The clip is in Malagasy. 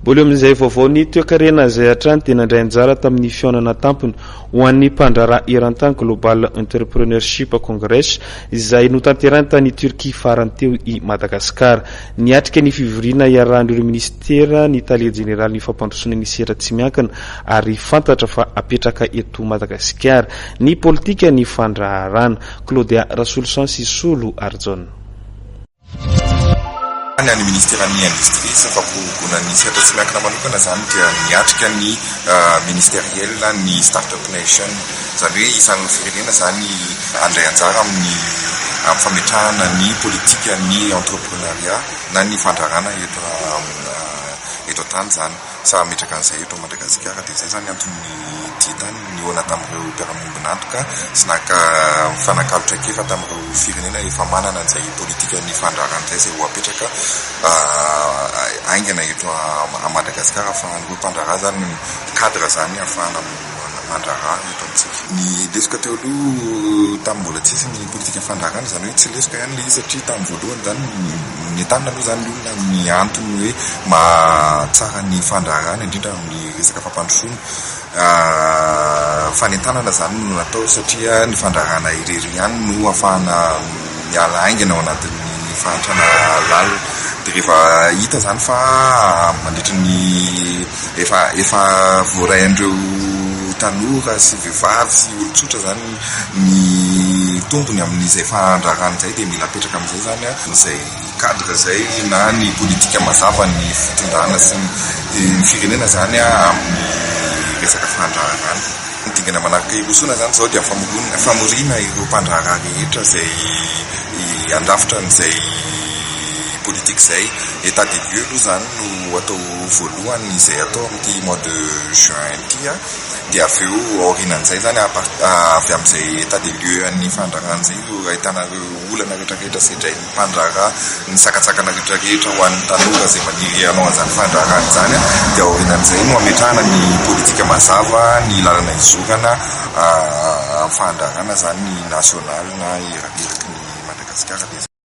Mbola eo amin'izay vaovao ny toekarena izay hatrany dia nandray anjara tamin'ny fihaonana tampony ho an'ny mpandraharaha eran-tany Global Entrepreneurship Congress izay notanterahiny tany Turquie farany teo i Madagasikara. Niatrika ny fivoriana iarahan'ireo minisitera ny tale jeneralin'ny fampandrosoana ny sehatra tsy miankina ary fantatra fa apetraka eto Madagasikara ny politikan'ny fandraharahana. Claudia Rasoloson sy Solo Arjona. Any amin'ny Ministeran'ny Indostria sy ny Fampiroboroboana ny Sehatra Tsy Miankina manokana izany dia miatrika ny Ministeriel ny Startup Nation. Izany hoe isan'ny firenena izany handray anjara amin'ny fametrahana ny politikan'ny Entreprenariat na ny fandrarana eto an-tany izany. Sahy hametraka an'izay eto Madagasikara dia izay izany anton'ny dihy tany nihaona tamin'ireo mpiara-miombon'antoka sy naka mifanakalo traikefa tamin'ireo firenena efa manana an'izay politikan'ny fandrarana izay izay ho apetraka haingana eto Madagasikara ahafahan'ireo mpandraharaha izany mi-cadre izany ahafahana Fivoarana fandraharana eto amintsika. Ny lesoka teo aloha tamin'ny mbola tsy hisy ny politika fandraharana, izany hoe tsy lesoka ihany ilay izy satria tamin'ny voalohany izany nentanina aloha izany ny olona amin'ny antony hoe mahatsara ny fandraharana indrindra amin'ny resaka fampandrosoana. Fanentanana izany no natao satria ny fandraharana irery ihany no ahafahana ho miala haingana ao anatin'ny fahantrana lalina dia rehefa hita izany fa mandritra ny efa efa voaray an'ireo tanora sy vehivavy sy olon-tsotra izany ny tombony amin'izay fahandrarana izay dia mila apetraka amin'izay izany an izay cadre izay na ny politika mazava ny fitondrana sy ny firenena izany amin'ny resaka fandraharahana. Ny dingana manaraka hirosoana izany izao dia ny famoriana ireo mpandraharaha rehetra izay handrafitra an'izay politika izay. Etat des lieux aloha izany no atao voalohany izay atao amin'ity mois de juin ity dia avy eo aorianan'izay izany avy amin'izay etat des lieux an'ny fandraharahana izay no ahitana ireo olana rehetra rehetra sedrain'ny. fandraharaha ny sakantsakana rehetra rehetra ho an'ny tanora izay maniry hanao an'izany fandraharaha izany dia aorianan'izay no hametrahana ny politika mazava ny lalana hizorana amin'ny fahandrahana izany ny nasionaly na eraky ny Madagasikara dia izay.